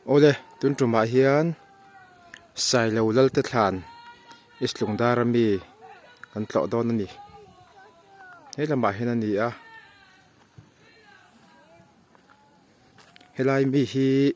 Awle tun tumah hian sailo lal te thlan i slung dar a mi kan tlawh dawn a ni he lamah hian a ni a he lai mi hi--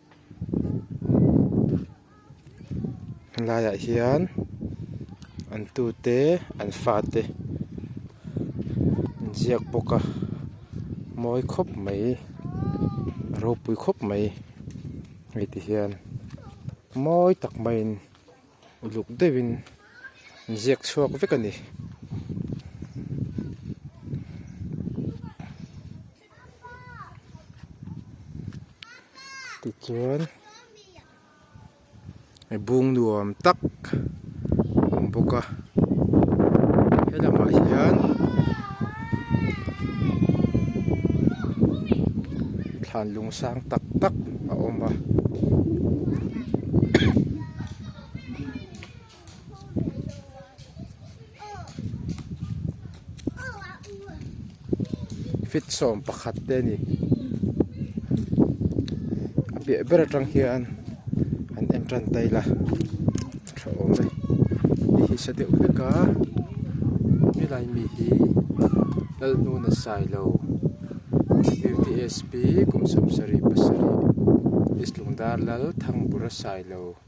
helaiah hian an tu te an fa te an ziak bawk a mawi khawp mai a ropui khawp mai hei ti hian mawi tak mai in uluk deuh in an ziak chhuak vek a ni. tichuan hei bung nuam tak a awm bawk a helamah hian thlan lung sang tak tak a awm a. fit sawm pakhat te a ni a piah ber atang hian an en tan daih la a tha awm e mi hi sa deuh hlek a he lai mi hi lal hnun a sai lo kum sam sarih pasarih Islingdar lal thangbura sailo.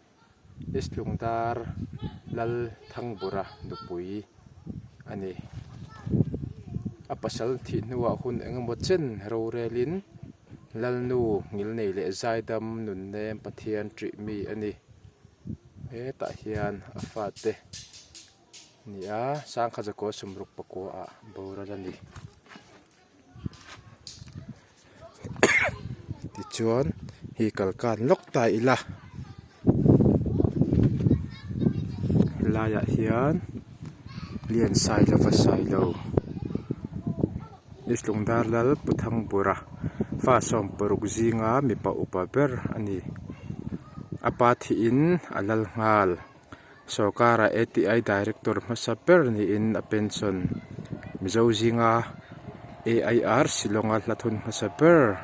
Islungdar Lal Thangbura nupui a ni. A pasal thih hnuah hun eng emaw chen rorelin Lalnu ngilnei leh zaidam nunnem Pathian ṭih mi a ni. Hetah hian a fate a ni a, Sangkhaza Kaw Sumruk pakua ah boral a ni. tichuan hei kal kan lawk ta ila laiah hian lian sai lo va sai lo ni tlung dar lal pu thang bura fa sawm paruk zinga mipa upa ber a ni a pa thiin a lal nghal. Sorkara ATI Director hmasa ber niin a pension Mizo zinga AIR Shillonga hlathun hmasa ber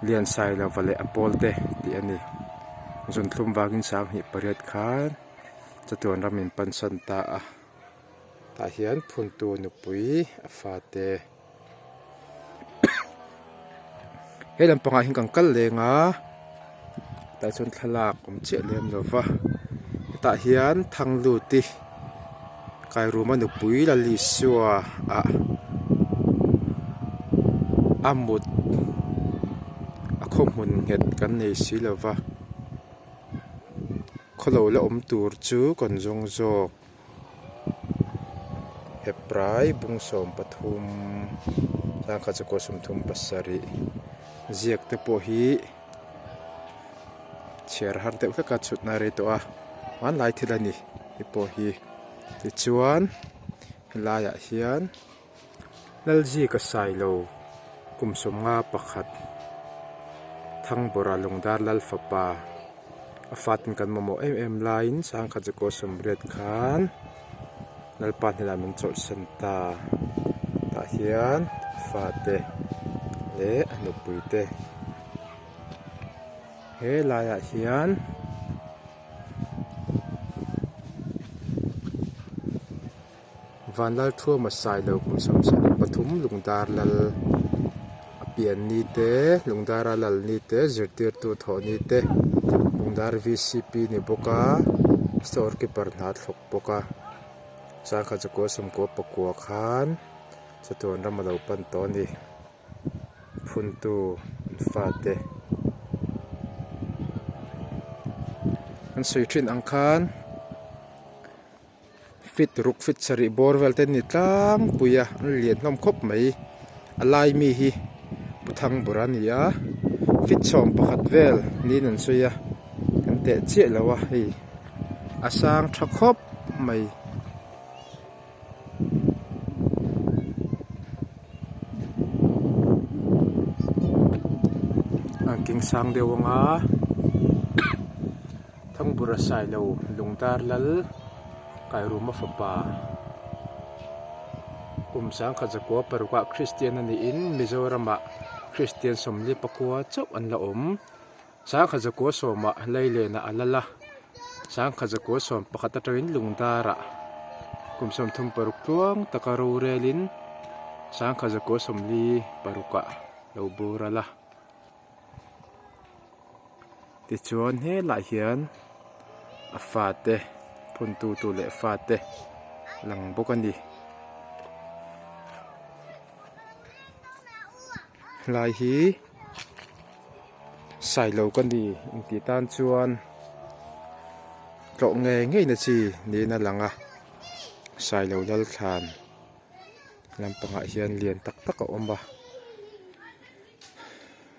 Lian Sai Lova leh a pawlte tih a ni. Zunthlum vangin sang hnih pariat khan chatuan ram in pansan ta a. Tah hian phuntu nupui a fate. he lam pangah hian kan kal leng a tah chuan thlalak awm chiah lem lo va hetah hian thangluti kairuma nupui lalisua ah a mut a khawhmun nghet kan nei si lo va khaw lo la awm tur chu kan zawng zawk. Heprai bung sawm pathum tlang kha chakua sum thum pasarih ziak te pawh hi chhiar har deuh hlek a chhutna a rei tawh a hmanlai thil a ni hei pawh hi tichuan helaiah hian-- Lalzia ka sai lo, kum sawmnga pakhat Thangbawrah Lungdar Lal fapa a fatin kan mamawh em em laiin Sangkhat Zakaw Sawmriat khan Lalpa hnenah min chawlhsan ta. Tah hian a fate leh a nupuite he laiah hian Vanlal thu a masai lo kum sam sam in pathum lungdar lal a pian ni te lungdar a lal ni te zirtir tu thawh ni te lungdar vcp a ni bawk a store keeper hna a thlawk bawk a chuan kha chu kua sum kua pakua khan chutiang ram a lo pan tawh a ni phun tu an fa te an sawi thin ang khan. Fit ruk fit sarih bawr vel ten ni tlangpui a an lian hlawm khawp mai a lai mi hi pu thangbur a ni a fit chhawm pakhat vel niin an sawi a kan teh chiah lo a hei a sang tha khawp mai. Thangbura Sailo Lungtar Lal, Kairuma fapa, kum sangkhat zakua parukah Kristian a niin Mizoramah Kristian sawmli pakua chauh an la awm. Sangkhat zakua sawmah Leilenah a lal a, sangkhat zakua sawm pakhat atangin Lungdarah kum sawm thum paruk tluang taka rorelin sangkhat zakua sawmli parukah lo bura la. Tichuan he lah hian a fate phun tu tu leh fate lang bawk a ni helai hi sailo ka ni intih tan chuan tlawh ngei ngei na chi niin a lang a sailo lal thlan lampangah hian lian tak tak a awm a.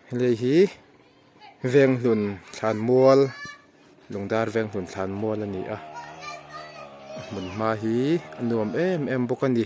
Hei hi venghlun thlanmual lungdar venghlun thlanmual a ni a a hmun hma hi a nuam em em bawk a ni.